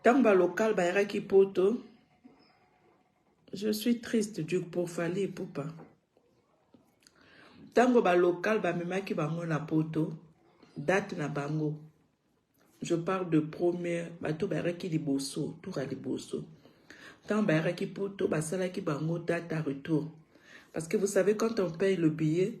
ntango ba local bayakaki poto je suis triste du pour fali ipupa ntango ba local bamemaki bango na poto date na bango je parle de première bato bayakaki liboso tour ya liboso ntango bayakaki poto basalaki bango date à retour parce que vous savez quand on paye le billet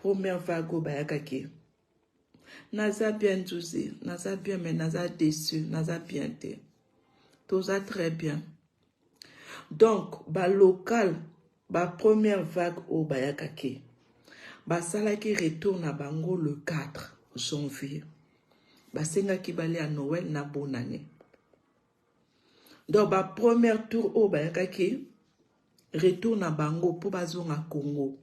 Première vague oyo bayaka ke naza bien nzuzi naza bien mais naza déçu naza bien te toza très bien donc balocal ba première vague oyo bayaka ke basalaki retour na bango le 4 janvier basengaki balia noel na bonane Donc ba première tour oyo bayakaki retour na bango mpo bazonga Congo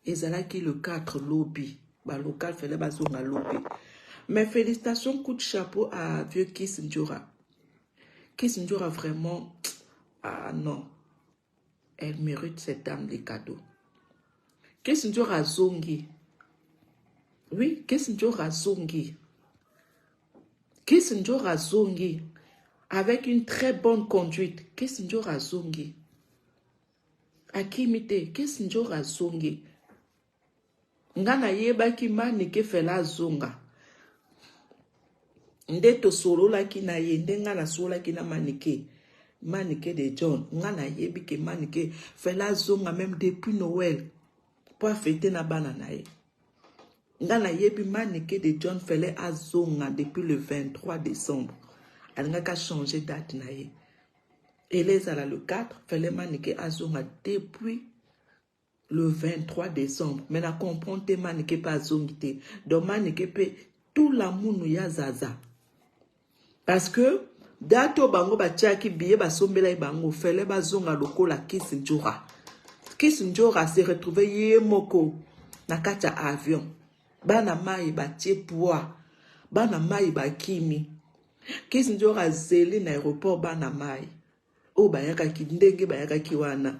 ezalaki le 4 lobi ba local fele bazonga lobi mais félicitation coup de chapeau à vieux Kiss Ndjora Kiss Ndjora vraiment ah non Elle merite cette dame des cadeaux. Kissinger azongi. Oui, Kissinger azongi. Kissinger azongi. Avec une très bonne conduite. Kissinger azongi. Akimi te. Kissinger azongi. Nga na yebaki manike fela azonga nde tosololaki na ye nde nga nasololaki na manike manike de john nga na yebi ke manike fela azonga meme depuis noel po afete na bana na ye nga na yebi manike de john fele azonga depuis le 23 décembre alingaki achange date na ye ele ezala le 4 fele manike azonga depuis le 23 decembre mais na comprendre te manike pe azongi te donc manike pe tout la munu ya zaza parce que date oyo bango batiaki biye basombelaki bango fele bazonga lokola kis njora kis njora se retrouve ye moko na kati ya avion bana mai batie poids bana mai bakimi kis njora azeli na aéroport bana mai oyo bayakaki ndenge bayakaki wana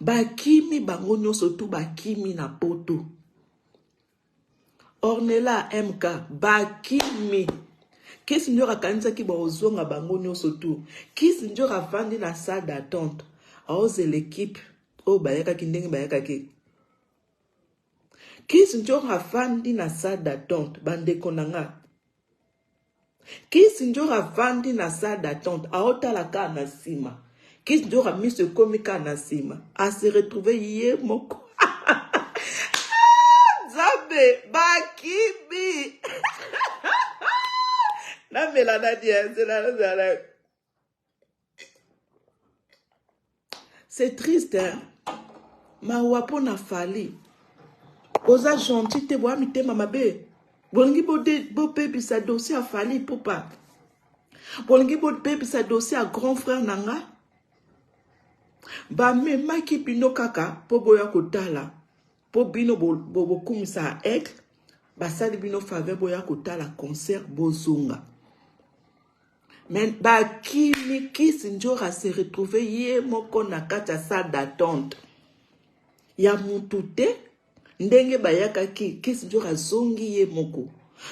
bakimi bango nyonso tu bakimi na poto ornela mk bakimi kisi njora akanisaki baozonga bango nyonso tu kisi njora afandi na salle d'attente aozela ekipe oyo bayakaki ndenge bayakaki kisi njora afandi na salle d'attente bandeko na nga Kissindjora avandi na salle d'attente aotala kaka na sima. Kissindjora miso ekomi kaka na sima. A se retrouver ye moko. Ah, Nzambe, bakimi. Namela nani ya nzela nazala. C'est triste hein. Mawa mpo na Fally. Boza gentil te boya mitema mabe. Bolingi bobebisa bo dossier ya Fally Ipupa. Bolingi bobebisa dossier ya grand frère na nga. Bamemaki bino kaka mpo boya kotala. Po bino bo bokumisa bo aigle basali bino faveur boya kotala concert bozonga. Mais bakimi Kiss Njora se retrouver ye moko na kati ya salle d'attente ya mutu te ndenge bayakaki Kiss Njora azongi ye moko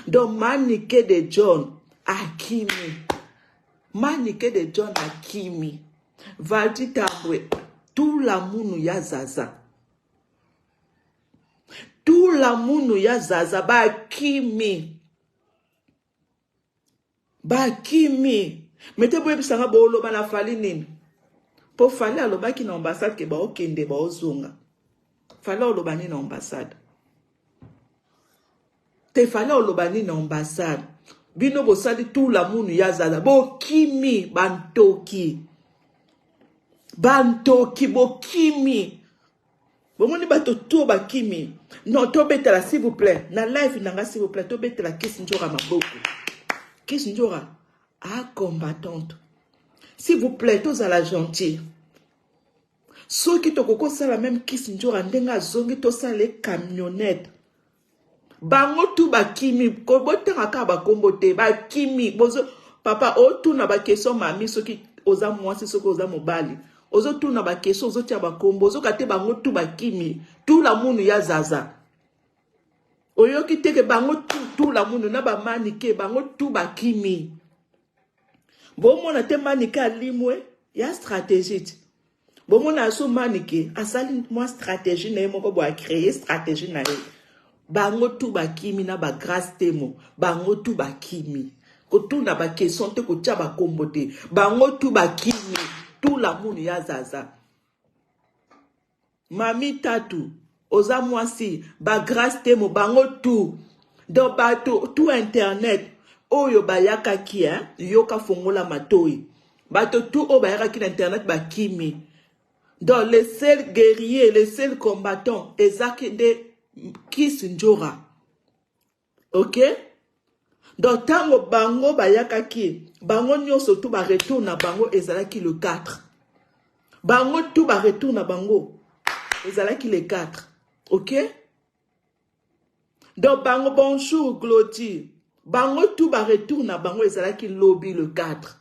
donc Manike de John akimi Manike de John akimi Valdi Tambwe tula munu ya Zaza tula muno ya zaza bakimi bakimi mete boyebisa nga boloba na fali nini mpo fali alobaki na ambassade ke baokende baozonga fali oloba nini na ambassade te fallait oloba nini na ambassade bino bosali tout la munu ya zaza bokimi bantoki bantoki bokimi bomoni bato to bakimi non tobetela s'il vous plaît na live na nga s'il vous plaît tobetela kisi njora maboko kisi njora a combattante s'il vous plaît tozala gentil soki tokoki kosala meme kisi njora ndenge azongi tosala ye camionnette bango tu bakimi botanga kaka bakombo te bakimi bozo papa otuna bakestion mami soki oza mwasi soki oza mobali ozotuna bakestion ozotia bakombo ozoka te bango tu bakimi tu lamunu ya zaza oyoki teke bango tu tu lamunu na bamanike bango tu bakimi bomona te manike alimwe ya strategite bomona aso manike asali mwa stratégie na ye moko bo acreye stratégie na ye bango tu bakimi na bagrace temo bango tu bakimi kotuna bakestion te kotya bakombo te bango tu bakimi tu lamunu ya zaza Mami tatu oza mwasi ba grace temo bango tout donc bato tout internet oyo bayakaki hein yoka fongola matoyi bato tout oyo bayakaki na internet bakimi donc le seul guerrier le seul combattant ezaki nde kiss njora ok donc ntango bango bayakaki bango nyonso tu baretour na bango ezalaki le 4 bango tu baretour na bango ezalaki le 4 ok donc bango bonjour glodie bango tu baretour na bango ezalaki lobi le 4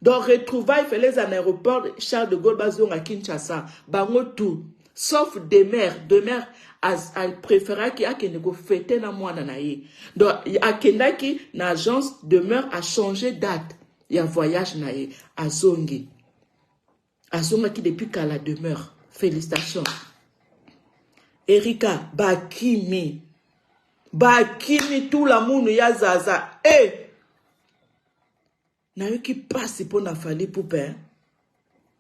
Donc retrouvaille fele eza na aéroport Charles de Gaulle bazonga Kinshasa bango tout sauf demeure demeure préféraki akende kofete na mwana na ye donc akendaki na agence demeure achange date ya voyage na ye azongi azongaki depuis kala demeure félicitation erika bakimi bakimi tula munu ya zaza e eh! Nayoki pasi mpo na Fally Ipupa eh.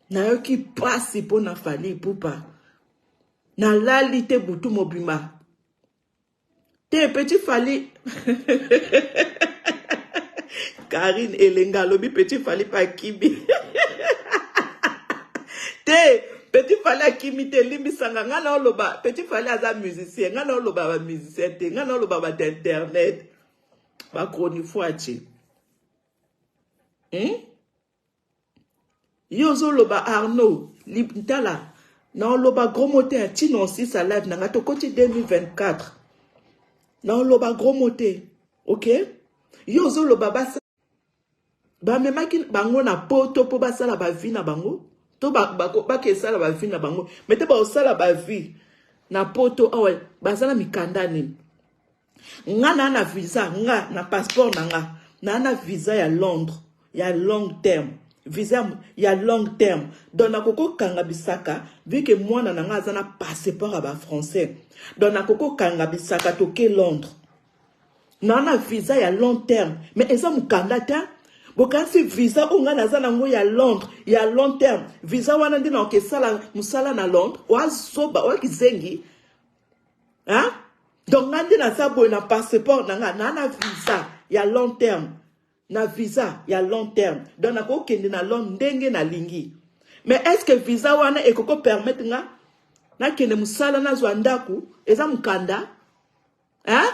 Nayoki pasi mpo na Fally Ipupa. Nalali te butu mobimba. Te petit Fally. Karine Elenga alobi petit Fally pa kibi. te petit fale akimi te limbisanga ngai na oloba petit fale aza musicien ngai na oloba bamusicien te ngai na oloba bato internet bachronifuati hmm? yo ozoloba arnaud tala naoloba gros mot te ntina osisa live na ngai tokoti 2024 naoloba gros mot te ok yo ozoloba basa bamemaki bango na poto mpo basala bavi na bango to bakesala bavi na bango me te bakosala bavi na poto awa baza na mikanda nini Nga na na visa nga na passeport na nga na na visa ya Londres ya long terme visa ya long terme donc nakoki kokanga bisaka vu ke mwana na ngai aza na passeport ya bafrançais donc nakoki kokanga bisaka toke londres naa na visa ya long terme mais eza mokanda te bokanisi visa oyo ngai naza nango ya londres ya long terme visa wana nde nakoki esala mosala na londres oazoba oakizengi hein? donc nga nde naza boye na passeport na nga na na visa ya long terme na visa ya long terme donc nakokende na londre ndenge nalingi mais est ce que visa wana ekoki opermettre nga nakende mosala nazwa ndako eza mokanda hein?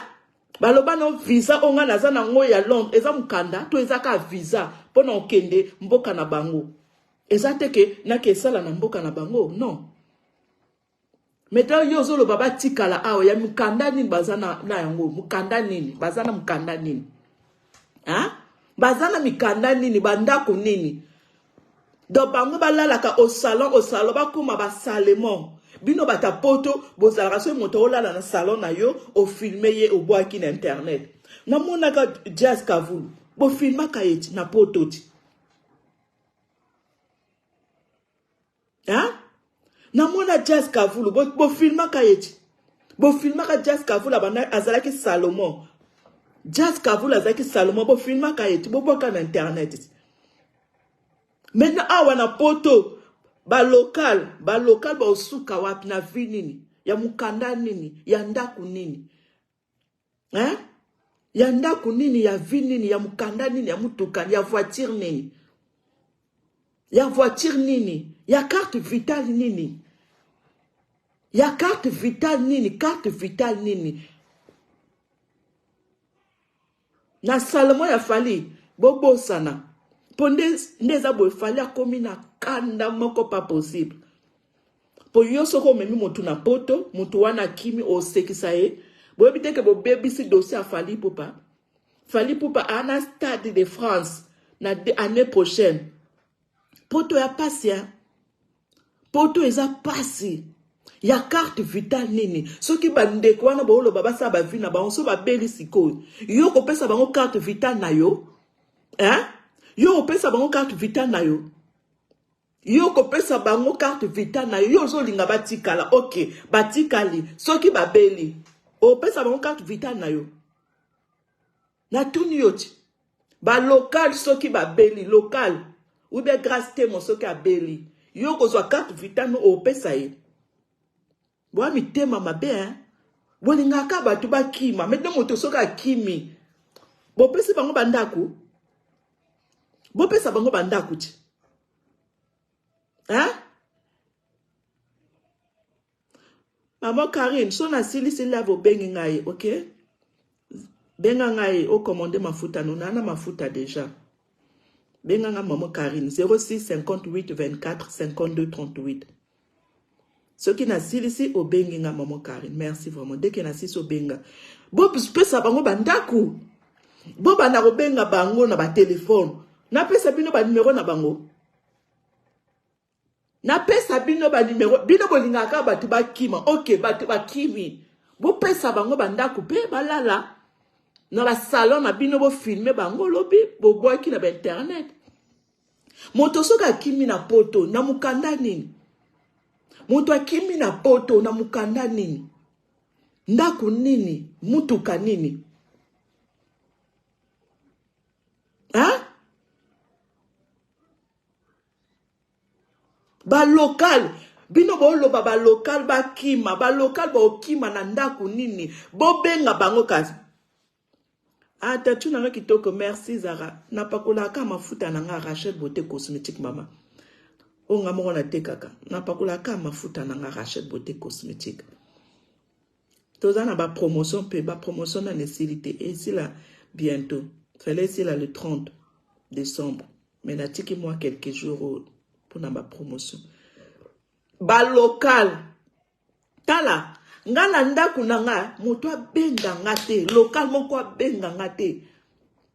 baloba no visa oyo ngai naza na yango ya londre eza mokanda to eza kaka visa mpo na okende mboka na bango eza te ke nakesala na mboka na bango non Maintenant yo ozoloba batikala awa ya mukanda nini baza na, na yango mukanda nini baza na mukanda nini ha? baza na mikanda nini bandako nini donc bango balalaka au salon au salon bakoma basalement bino bata poto bozalaka soki moto olala na salon na yo ofilme ye obwaki na internet namonaka jazz kavulu bofilmaka ye ti na poto ti hein? namona jazz kavulu bofilmaka bo ye ti bofilmaka jazz kavulu abanda azalaki salomon jazz kavulu azalaki salomon bofilmaka ye ti bobwaka na internet ti maintenant awa na poto balokale balokale baosuka wapi na vi nini ya mokanda nini ya ndako nini hein? ya ndako nini ya vie nini ya mokanda nini ya motuka ya voiture nini ya voiture nini ya carte vitale nini ya carte vitale nini carte vitale nini Na salmo ya fally bobosana po nde nde eza boye fally akomi na kanda moko pas possible po yo soki omemi mutu na poto mutu wana akimi osekisa ye boyebi te ke bobebisi dossier ya fally ipupa fally ipupa ana stade de France na annee prochaine Poto ya pasi hein. Poto eza pasi. Ya carte vital nini? Soki ba ndeko wana boloba basala ba vie na bango so ba beli sikoyo. Yo kopesa bango carte vital na yo? Hein? Yo kopesa bango carte vital na yo? yo kopesa bango carte vital na yo yo ozolinga batikala ok batikali soki babeli opesa bango carte vital na yo natuni yo ti balocal soki babeli local ube grace temo soki abeli yo okozwa carte vitame opesa ye boya mitema mabe hein? bolingaka bato bakima maintenant moto soki akimi bopesi bango bandako bopesa bango bandako ti hein? Maman Karine, so na sili sili lave obengi ngai, ok? Benga ngai o commande mafuta no na na mafuta deja. Benga ngai maman Karine 06 58 24 52 38. Soki na silisi obengi ngai maman Karine. Merci vraiment. Dès que na silisi obenga. Bo pesa bango ba ndaku. Bo banda ko benga bango na ba téléphone. Na pesa bino ba numéro na bango. napesa bino banimero bino bolingaka kaka bato bakima oke bato bakimi bopesa bango bandako mpe balala na basalon na bino bofilme bango lobi bobwaki na bainternet moto soki akimi na poto na mokanda nini moto akimi na poto na mokanda nini ndako nini motuka nini ha? ba local bino boloba ba local bakima ba local bokima na ndako nini bobenga bango kasi ah tatu na nga kitoko merci zara napakolaka mafuta na nga rachel beauté cosmétique mama oyo nga moko natekaka napakolaka mafuta na nga rachel beauté cosmétique toza na ba promotion pe ba promotion nanu esili te esila bientôt fallait esila le 30 décembre mais natiki mwa quelques jours oyo mpona ba promotion ba local tala nga na ndako na nga moto abenda nga te local moko abenga nga te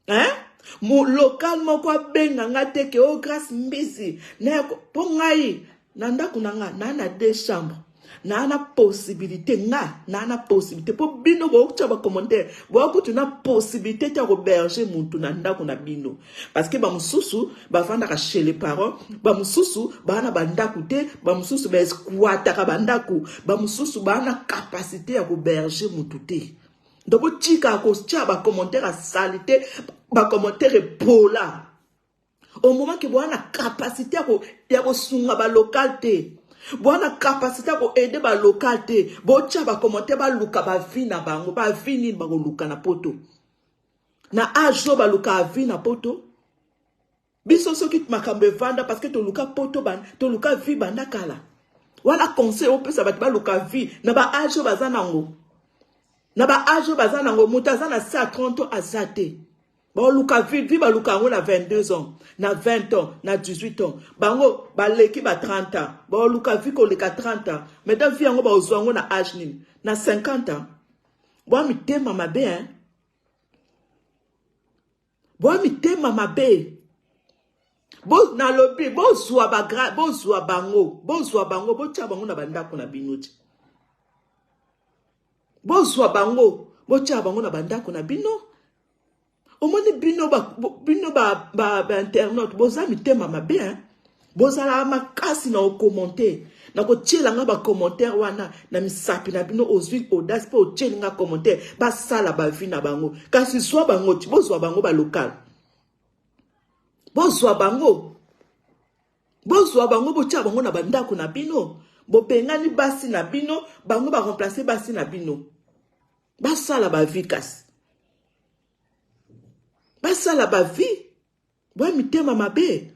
hein? Mo local moko abenga nga te ke o oh, grace mbizi na po ngai na ndako na nga na na deux chambres na na possibilité nga na na possibilité po bino bokutya bacommentaire bokutu na possibilité te ya koberge mutu na ndako na bino parce que bamosusu bafandaka chez les parents bamosusu baa na bandako te bamosusu baesquataka bandako bamosusu baa na capacité ya koberge mutu te donc botika kotia ba commentaire ya salite ba commentaire epola au moment ke boa na capacité ya kosunga balocal te boa na capacité ya koaide balocal te botia bacommentaire baluka bavi na bango bavi nini bakoluka na poto na age oyo balukaka vi na poto biso soki makambo evanda parce que toluka poto ba toluka vie banda kala wana conseil opesa bato baluka vie na ba age baza nango na ba age oyo baza nango moto aza na se ya 30 ans aza te baoluka vie vie baluka yango na 22 ans na 20 ans na 18 ans bango baleki ba 30 ans baoluka vie koleka 30 ans maintenant vie yango baozwa yango na age nini na 50 ans bwa mitema mabe hein boa mitema mabe bo nalobi bozwa bagra bozwa bango bozwa bango botya bango na bandako na bino ti bozwa bango botya bango na bandako na bino omoni bino ba, bino ba, ba, ba internaute boza mitema mabe hein? bozalaka makasi na okomante na kotyela nga bacommentaire wana na misapi na bino ozwi audace mpe otyeli nga commentaire basala bavi na bango kasi zwa bango ti bozwa bango balokale bozwa bango bozwa bango botya bango na bandako na bino bobengani basi na bino bango baremplace basi na bino basala bavi kasi basala bavi Boye mitema mabe.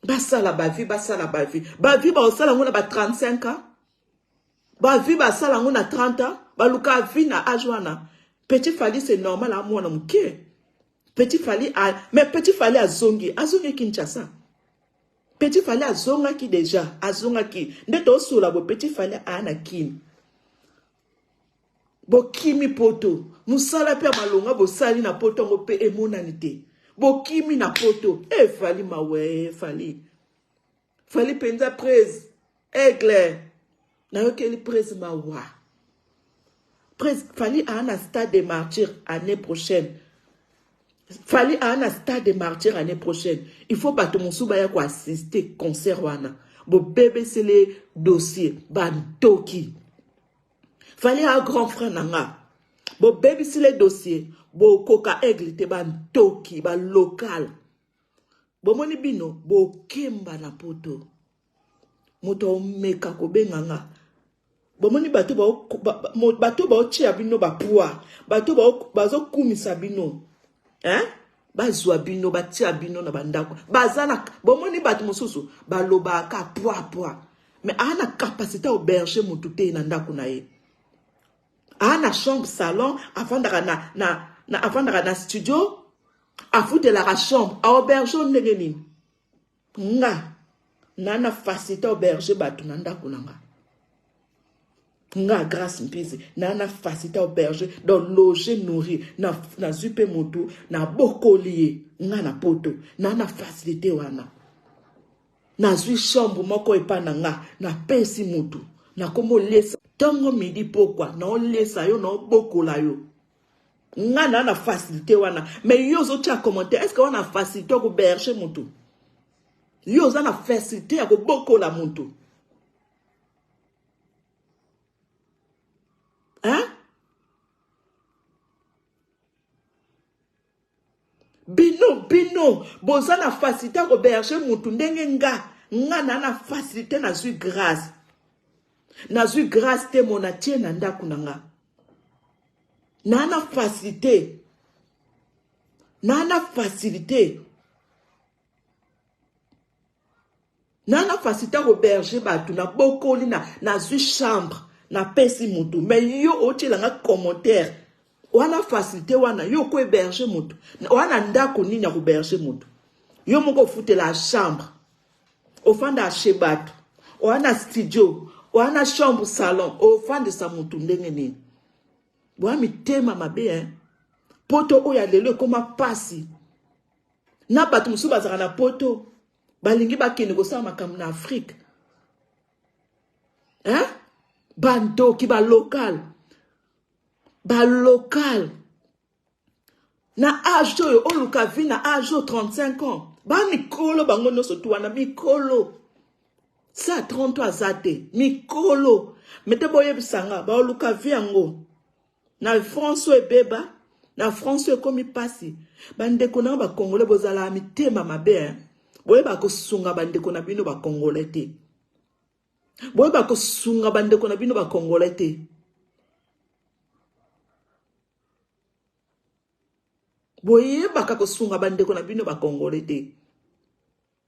Basala ba vie, basala ba vie. Ba vie ba osala ngona ba 35 ans. Ba vie ba sala ngona 30 ans. Ba luka vie na âge wana. Petit Fally c'est normal à mwana mukie. Petit Fally a mais Petit Fally azongi, azongi Kinshasa. Petit Fally azongaki déjà, azongaki. Nde to sula bo Petit Fally a na Kin. bokimi poto mosala mpe ya malonga bosali na poto yango mpe emonani te bokimi na poto e eh, fali mawe fali fali mpenza prese aigle nayokeli prese mawa prese fali aa na stade de martyr année prochaine Fally a na stade de martyr année prochaine. Il faut bato mosusu baya ko assister concert wana. Bobebesele dossier ba ntoki. Fally a grand frère na nga. Bobebisile dossier bokoka aigle te ba ntoki ba local. Bomoni bino bokemba na poto. moto omeka kobenga nga bomoni bato baotia bino bapwa bato bazokumisa bino eh? bazwa bino batia bino na bandako baza na bomoni bato mosusu balobaka pwa pwa me aa na kapasite auberge motu te na ndako na ye aa na chambre salon afandaka na, na, na, afandaka na studio afutelaka chambre auberge ndenge nini Nga na na facilite auberge bato na ndako na nga nga grace mpizi na na facilite auberge donc loge nourri na nazwi mpe motu na bokoli ye nga na poto na na facilite wana nazwi chambre moko epa na nga napesi motu nakomolesa ntongo midi pokwa naolesa yo naobokola yo nga na na facilité wana mais yo ozotia commentaire est-ce que wana facilité ko berger mutu yo oza na facilité ya kobokola mutu hein bino bino boza na facilité ya koberge mutu ndenge nga nga na na facilité nazwi grâce nazwi grâce te mona tie na ndako na nga na na facilité na na facilité nanga fasita koberge bato nabokoli na nazwi chambre napesi motu me yo otyelanga commentaire wana facilité wana yo oko héberge motu wana ndako nini ya koberge motu yo moko ofutela chambre ofanda chez bato wana studio wana chambre salon ofandisa motu ndenge nini boya mitema mabe hein? poto oyo ya lelo ekoma mpasi na bato mosusu bazalaka na poto balingi bakende kosala makambo na afrike hein? bandoki balokale balokale na age oyo oluka vi na age oyo 35 ans bamikolo bango nyonso tu wana mikolo sa 30 aza te mikolo mete boyebisa nga baoluka vi yango Na France oyo ebeba, na France oyo ekomi pasi. Bandeko na yo ba Congolais bozala mitema mabe hein. Boyeba kosunga bandeko na bino ba Congolais te. Boyeba kosunga bandeko na bino ba Congolais te. boyebaka kosunga bandeko na bino bakongole te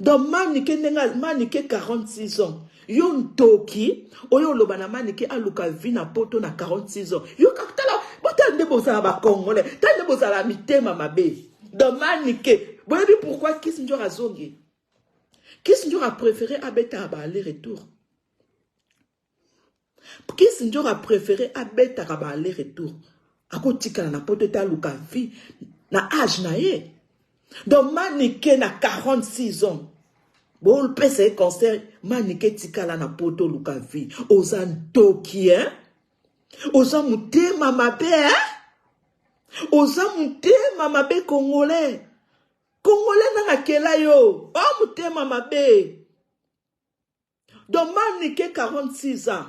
Donc manike ndenge manike 46 ans yo ntoki oyo oloba na manike aluka vie na poto na 46 ans yo kakutala botala nde bozala bakongole tala nde bozala mitema mabe donc manike boyebi pourquoi kis njor azongi kis njor apréféré abetaka ba aller retour Kiss Njoro a prefere abetaka ba aller retour. Akotikala na poto te aluka vie na age na ye. Donc Manike na 46 ans. Bopesa ye conseil Manike tikala na poto luka vie. Oza ntoki hein? Oza motema mabe hein? oza motema mabe congolais congolais nanga akela yo o oh, motema mabe Donc Manike 46 ans.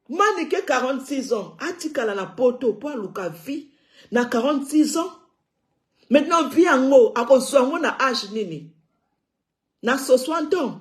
Manike 46 ans atikala na poto mpo aluka vie na 46 ans. Maintenant vie yango akozwa yango na age nini? Na 60 ans.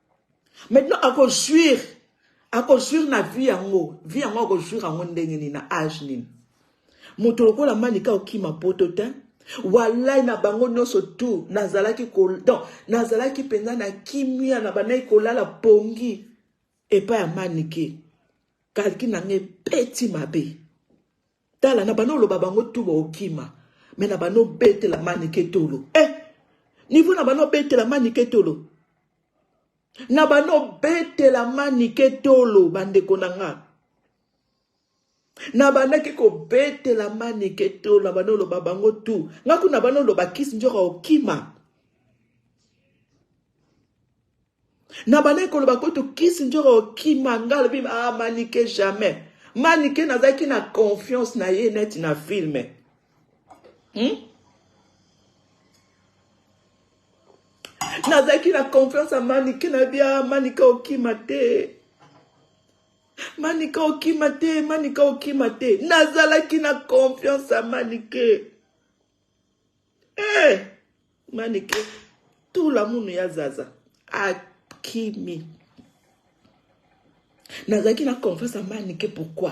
maintenant ako jouir ako jouir na vie yango vie yango ako jouir yango ndenge nini na age nini moto lokola manika okima poto te walai na bango nyonso tu nazalaki donc nazalaki mpenza na kimia na bandaki kolala pongi epai ya manike kalki na ngai ebeti mabe Tala na bano oloba bango tu bokima mais na bano betela manike tolo eh niveau na bano betela manike tolo na bano betela manike tolo bandeko na nga nabandaki kobetela manike to na bana oloba bango tu nga kuna bana oloba kisi nzoka okima nabandaki koloba kutu kisindjora okima nga alobi ah, manike jamais manike nazalaki na confiance na ye neti na filme hmm? nazalaki na confiance ya manike nayebi ah, manike okima te manike okima te manike okima te nazalaki na confiance ya manike Eh, manike tula munu ya zaza akimi nazalaki na confiance ya manike pourquoi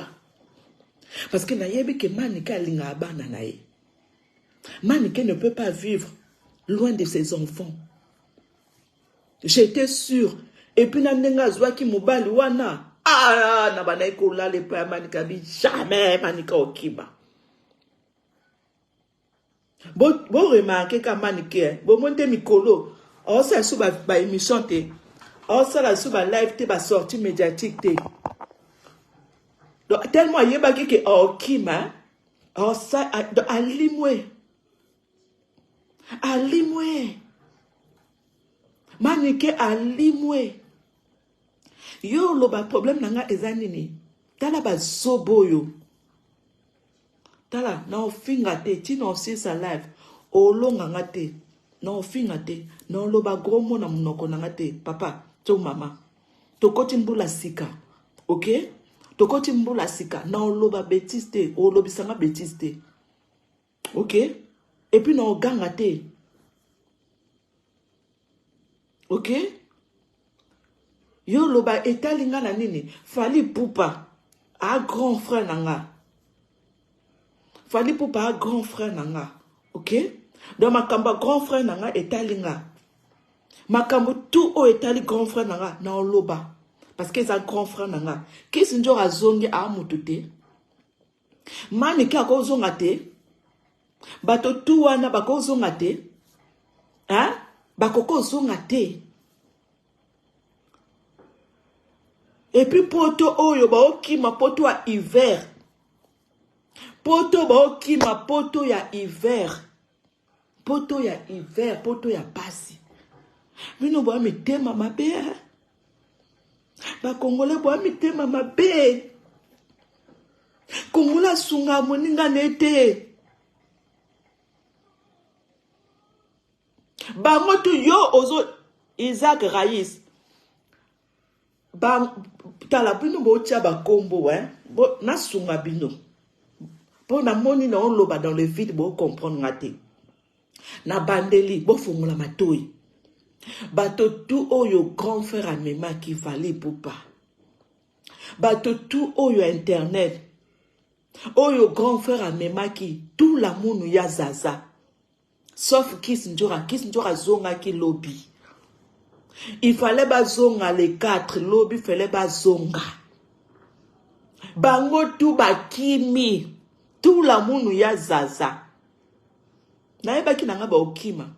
parce que nayebi ke manike alingaka bana na ye manike ne peut pas vivre loin de ses enfants j'étais sûr epuis na ndenge azwaki mobali wana ah, na bandaki kolala epai ya manike abi jamais manike okima Bo, bo remarquer ka manike, hein. bo monte mikolo, osala sous ba, ba émission te, osala sous ba live te, ba sortie médiatique te. Donc, tellement ayebaki ke okima, hein. osa, alimwe, alimwe, manike alimwe. Yo loba problème nanga eza nini? Tala ba zobo yo. tala na ofinga te tina osilisa live olonga nga te na ofinga te na oloba gros mot na munoko na nga te papa to mama tokoti mbula sika ok tokoti mbula sika na oloba betise te olobisa nga betise te ok epuis na oganga te ok Yo loba etali nga na nini? Fally Ipupa a grand frère na nga. Fally Ipupa a grand frère na nga. OK? Donc makambo ya grand frère na nga etali nga. Makambo tout oyo etali grand frère na nga na oloba parce que eza grand frère na nga. Kiss Njora azongi a mutu te. Manike akozonga te bato tu wana bakozonga te hein? bakoki ozonga te epuis poto oyo baokima poto ya hiver poto baokima poto ya hiver poto ya hiver poto ya pasi bino boya mitema mabe bakongole boya mitema mabe kongola asunga moninga na ye te bango tu yo ozo isaac rais ba tala bino botia bakombo eh? bo, nasunga bino mpo namoni naoloba dans le vide bocomprendre nga te na bandeli bofongola matoi bato tu oyo grand frère amemaki vali pupa bato tu oyo internet oyo grand frère amemaki tula munu ya zaza sauf kis njora kis njora azongaki lobi il fallait bazonga le 4 lobi fallait bazonga bango tu bakimi tu lamunu ya zaza nayebaki na ngai baokima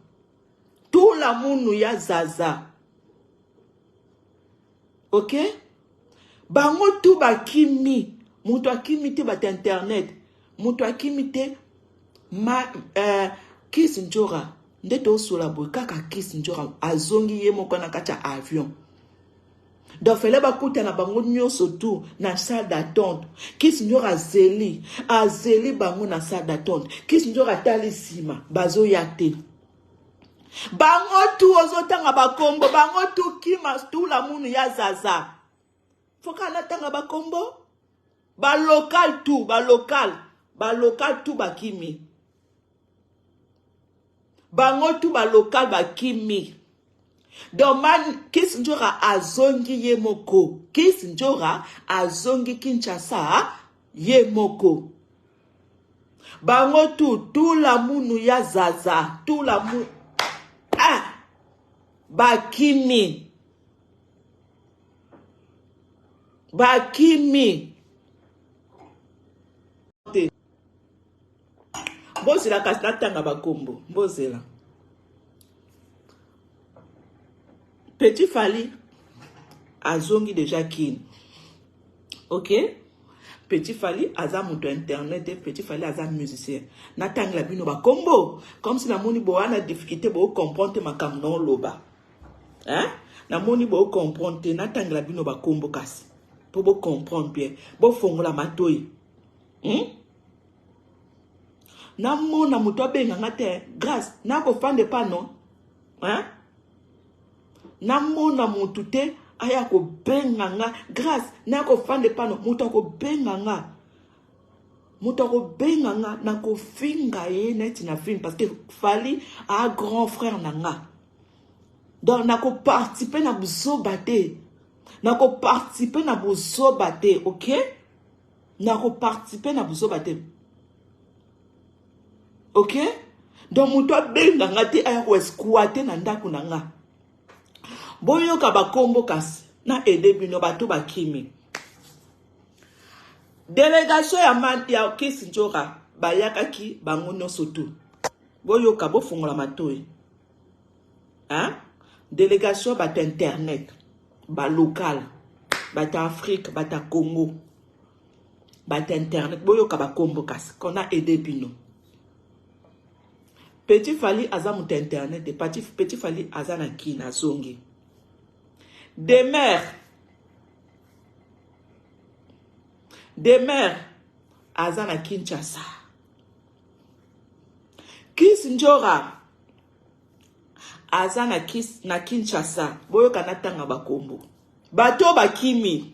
tu lamunu ya zaza ok bango tu bakimi moto akimi te bata internet moto akimi te ma uh, kis njora nde tosola boye kaka kis njora azongi ye moko na kati ya avion donc fele bakutana bango nyonso tu na salle d'attente kis njora azeli azeli bango na salle d'attente kis njora atali nsima bazoya te bango tu ozotanga bakombo bango tu kima stula munu ya zaza foka natanga bakombo balocal tu balocal balocal tu bakimi bango tu balocal bakimi donc man kis njora azongi ye moko kis njora azongi kinshasa ye moko bango tu tula munu ya zaza tula mu ah! bakimi bakimi te bozela kasi natanga bakombo bozela Petit Fally azongi deja kin. Ok? Petit Fally aza moto internet te, Petit Fally aza musicien. Natangela bino ba kombo comme si namoni boana difficulté bo comprendre te makambo na oloba. Hein? Namoni bo comprendre te natangela bino ba kombo kasi po bo comprendre bien. Bo fongola matoyi. Hmm? Namona moto abenga nga te, grâce nakofanda epa no. Hein? namona motu te aya kobenga nga grâce naya kofanda epano moto akobenga nga moto akobenga nga nakofinga ye neti na film parce que fali a grand frère na nga donc nakoparticipe na buzoba te nakoparticipe na buzoba te ok nakoparticipe na buzoba te ok donc moto abenga nga te aya koesquate na ndako na nga boyoka bakombo kasi na ede bino bato bakimi delegation ya, man, ya kisi njora bayakaki bango nyonso tu boyoka bofongola matoi hein? delegation bata internet balokale bata afrique bata congo bato ya internet boyoka bakombo kasi qu'on a aide bino petit fali aza moto ya internet te petit fali aza na kina azongi demeure demeure aza na kinshasa kis njora aza na, kis, na kinshasa boyoka natanga bakombo bato bakimi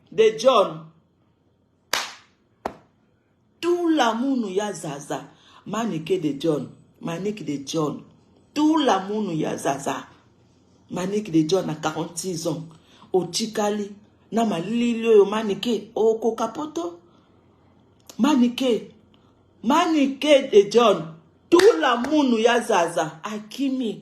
de john tula munu ya zaza manike de john manike de john tula munu ya zaza manike de john na 46 ans otikali na malili oyo manike okoka poto manike manike de john tula munu ya zaza akimi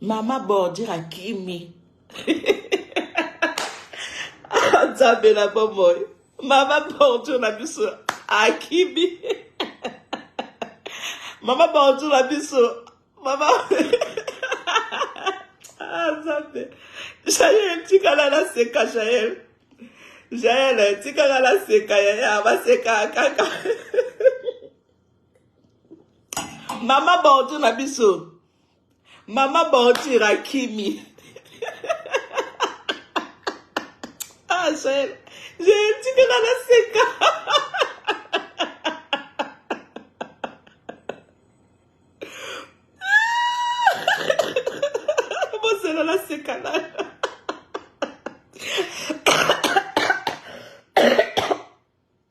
Mama bordure akimi. Nzambe na bomoi. Mama bordure na biso akimi. Mama bordure na biso. Mama Ah Nzambe. Jael tikala na seka Jael. Jael tikala na seka yaya baseka kaka. Mama bordure na biso. Mama Bordure akimi. ah, Jael, Jael, tu que la seka. Bozela la seka la.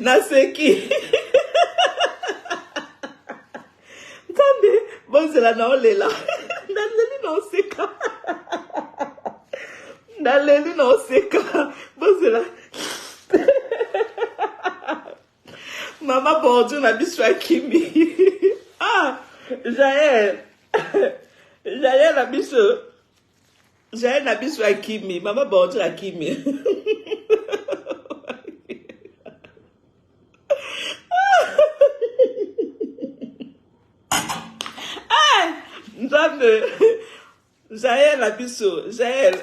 naseki nzambe bozela na olela naleli na oseka naleli na oseka bozela mama bordio na biso ya kimi ah jael jael na biso Jael na biso akimi, mama Bordure akimi. nzambe jael na biso jael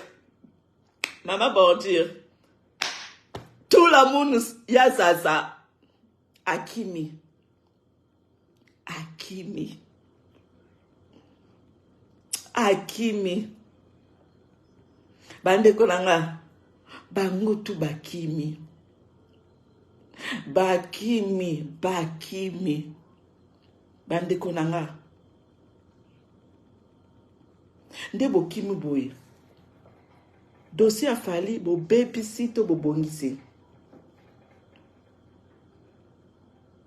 mama bordure tout la monde ya zaza akimi akimi akimi bandeko na nga bango tu bakimi bakimi bakimi bandeko na nga nde bokimi boye dosie ya fali bobebisi to bobongisi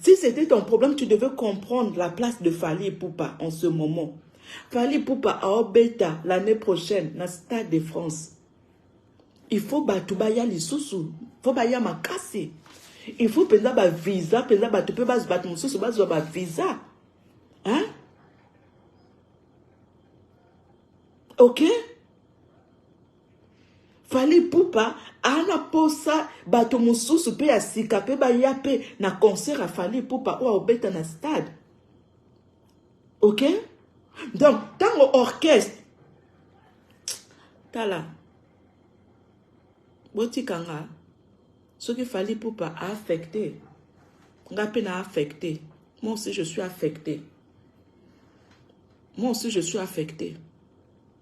Si c'était ton problème, tu devais comprendre la place de Fali Poupa en ce moment. Fali Poupa à Obeta l'année prochaine, na Stade de France. Il faut batubaya lisusu, faut baya makasi. Il faut penza ba visa, penza batu pe bas batu mususu bas ba visa. Hein? Ok? Fally Ipupa ana posa bato mosusu mpe ya sika mpe baya mpe na concert ya Fally Ipupa oyo aobeta na stade ok donc ntango orchestre tala botika nga soki Fally Ipupa aaffecte nga mpe na affecte moi aussi je suis affecte moi aussi je suis affecte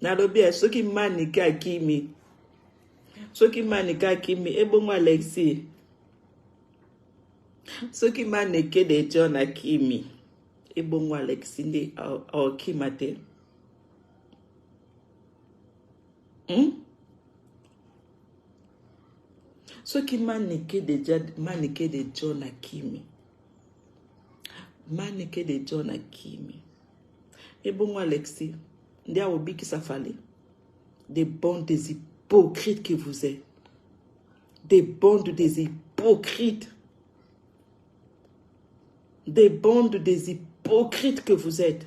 nalobi ya soki manike akimi soki manike akimi ebongo alexi soki manike de john akimi ebongo alexi nde aokima te hmm? soki manike de, manike de john akimi manike de john akimi Ebongo Alexis nde akobikisa Fally des bandes des hypocrites que vous êtes des bandes des hypocrites des bandes des hypocrites que vous êtes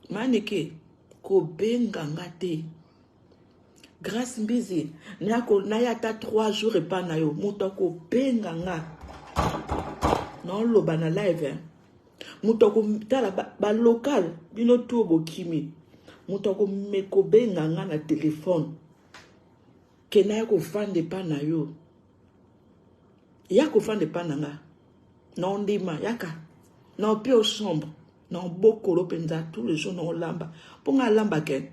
manike kobenga nga te Grace Mbizi, nako naya ata 3 jours epa na yo, moto akobenga nga naoloba na live hein? moto akotala balocal ba bino tuo bokimi moto akobenga nga na telefone ke naya kofanda epa na yo ya kofanda epa na nga naondima yaka naopio chambre naobokolo mpenza tout le jour naolamba mpo nga alambake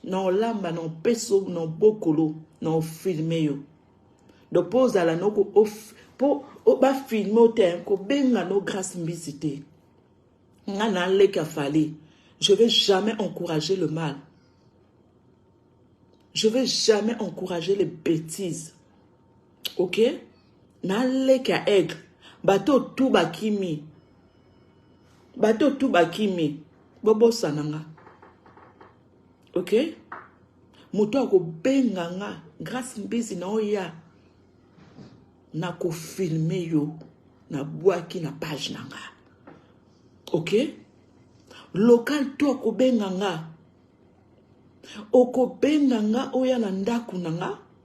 na olamba na opeso na obokolo na ofilme yo donc mpo ozala noko mpo bafilme o te kobenga no grace mbisi te nga na leka fali je vais jamais encourager le mal je vais jamais encourager les bêtises ok na leki ya aigle bato tu bakimi bato tu bakimi bobosana nga ok moto akobenga nga grace mbizi na oya nakofilme yo nabwaki na page na nga ok local to akobenga nga okobenga nga oya na ndako na nga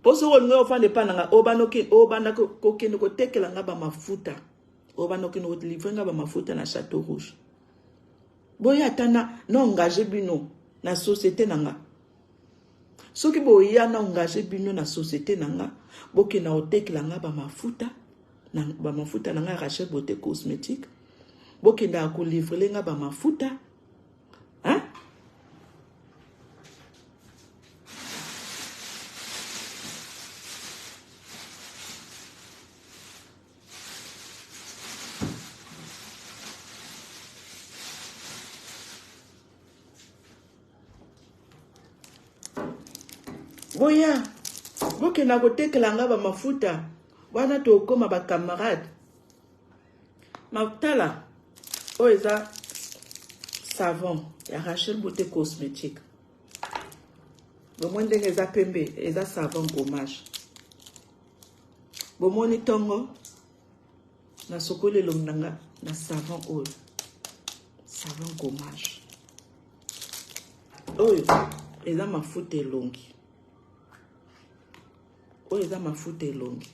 mpo soki olingi ofanda epai na ngai obanda kokende kotekela ngai bamafuta obanda okende kolivre ngai bamafuta na chateau rouge boye ata na na engage bino na société na ngai soki boya na engage bino na société na ngai bokenda kotekela ngai bamafuta bamafuta na ngai rachel bote cosmétique bokendaka kolivrele ngai bamafuta Hein? boya bokenda kotekela nga bamafuta wana tokoma bacamarade Tala, oyo eza savon ya Rachel Beauté Cosmétique. Bomoni ndenge eza pembe, eza savon gommage. Bomoni tongo nasokoli elongi na nga na savon oyo, savon gommage. Oyo eza mafuta elongi, oyo eza mafuta elongi.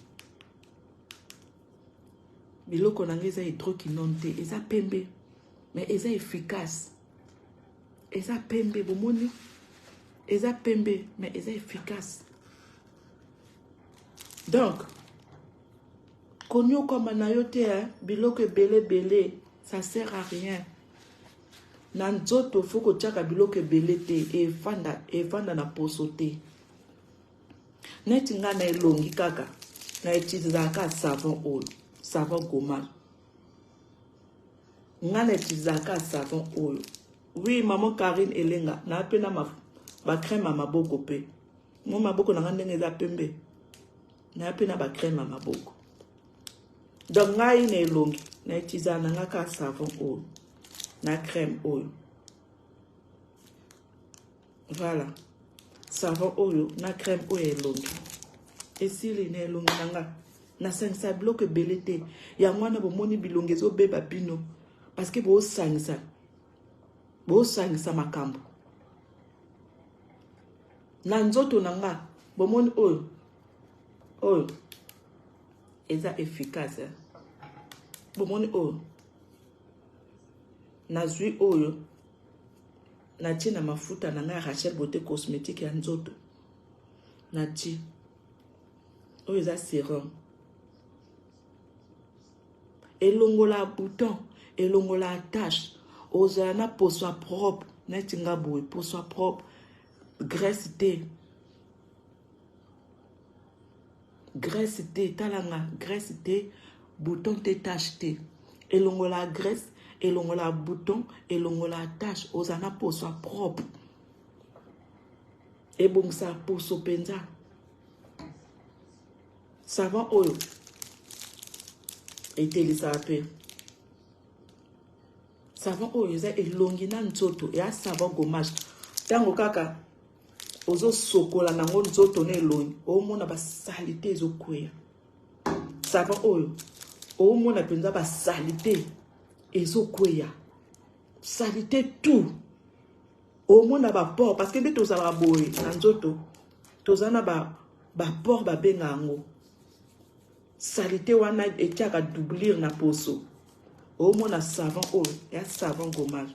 biloko na nga eza hydroquinone te eza pembe mais eza efficace eza pembe bomoni eza pembe mais eza efficace donc konyokwama na yo te hein? biloko ebele ebele ça sert à rien na nzoto fo kotyaka biloko ebele te efanda efanda na poso te Neti nga na elongi kaka na utilizaka ka savon oyo savon gomal nga na utilizaka ka savon oyo oui maman Karine elenga na pe na ba crème ya maboko pe mo maboko na nga ndenge eza pembe na pe na ba crème ya maboko donc ngai na elongi na utilizaka na nga ka savon oyo na crème oyo Voilà. Savon oyo na crème oyo elongi. Esili na elongi na nga. Nasangisa biloko ebele te. Yango wana bomoni bilongi ezobeba bino. Parce que bosangisa. Bosangisa makambo. Na nzoto na nga. Bomoni oyo. Oyo. Eza efficace. Eh? Bomoni oyo. Nazui oyo. Natie na mafuta na ngai Rachel Beauté cosmétique ya nzoto. Natie. Oyo eza serum. Elongola bouton, elongola tache. Ozala na poso ya propre, neti nga boye, poso ya propre. Graisse te. graisse te tala nga graisse te bouton te tache te elongola graisse elongola bouton elongola tache oza na poso ya propre ebongisa poso mpenza savon oyo etelisaka mpe savon oyo eza elongi na nzoto eya savon gommage ntango kaka ozo sokola nango nzoto na elongi omona basalite ezokweya savon oyo omona mpenza basalite ezokweya salite tout omona baport parce que nde tozalaka boye na nzoto toza na baport babenga yango salite wana etiaka doublure na poso omona savon oyo ya savon gommage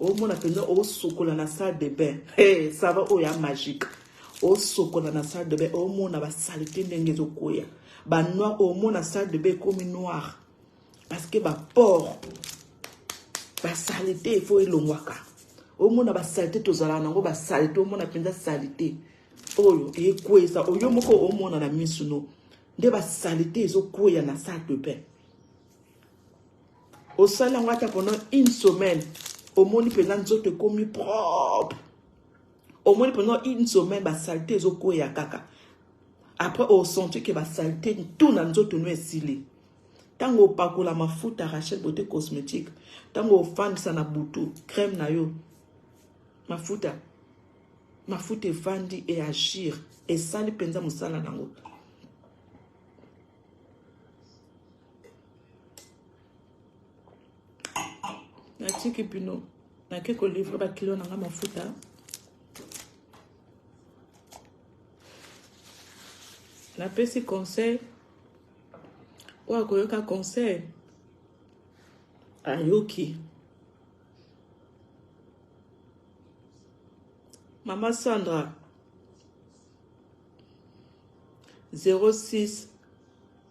omona mpenza osokola na salle de bain hey, sava oyo ya magique osokola na salle de bain omona basalite ndenge ezokwea banoir omona salle de bain ekomi noir parce que baport basalite efo elongwaka omona basalite tozalaka nango basalite omona mpenza salite oyo ekweyisa oyo moko omona na misu no nde basalite ezokweya na salle de bain osali yango ata pendant une semaine omoni mpenza nzoto ekomi propre omoni pendant une semaine basalite ezokweya kaka après osenti ke basalite ntu na nzoto no esili ntango opakola mafuta rachel beauté cosmétique ntango ofandisa na butu crème na yo mafuta mafuta efandi e agir esali mpenza mosala na yango natiki bino nake kolivre bakilo na nga mafuta napesi conseil oyo akoyoka conseil ayoki mama sandra 06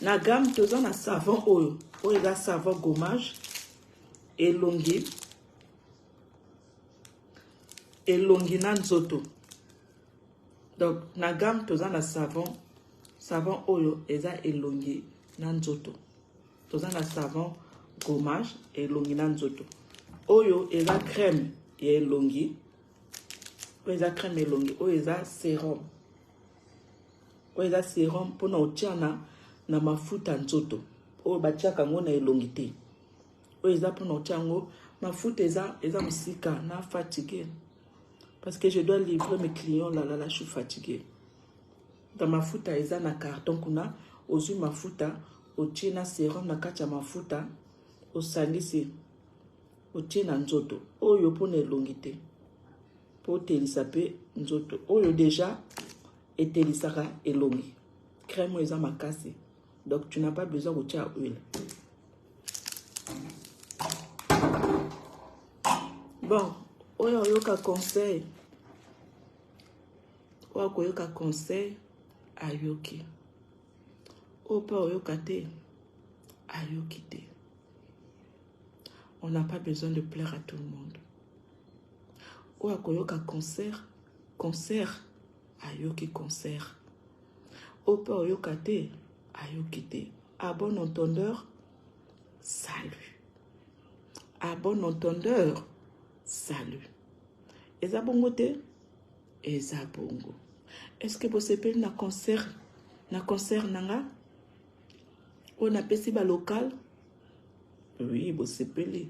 na gamme toza na savon oyo oyo eza savon gommage elongi elongi na nzoto donc na gamme toza na savon savon oyo eza elongi na nzoto toza na savon gommage elongi na nzoto oyo eza crème ya elongi oyo eza crème elongi oyo eza serum oyo eza serum mpona otya na, na mafuta nzoto oyo batyaka yango na elongi te oyo eza mpona otya yango mafuta eza, eza mosika na fatigue parce que je dois livrer mes clients lalala je suis fatigue na mafuta eza na carton kuna ozwi mafuta otie na serum na kati ya mafuta osangisi otie na nzoto oyo mpona elongi te mpo otelisa mpe nzoto oyo deja etelisaka elongi crème oyo eza makasi donc tu n'as pas besoin kotia huile bon oyo oyoka conseil oyo akoyoka conseil ayoki oyo mpe oyoka te ayoki te on n'a pas besoin de plaire à tout le monde oyo akoyoka concert concert ayoki concert oyo mpe oyoka te ayoki te à bon entendeur salut à bon entendeur salut eza bongo te eza bongo est ce que bosepeli na concert na concert na nga oyo napesi ba local oui bosepeli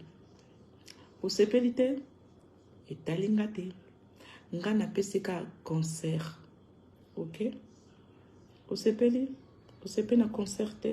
bosepeli te etali nga te nga napesi ka concert ok osepeli osepeli na concert te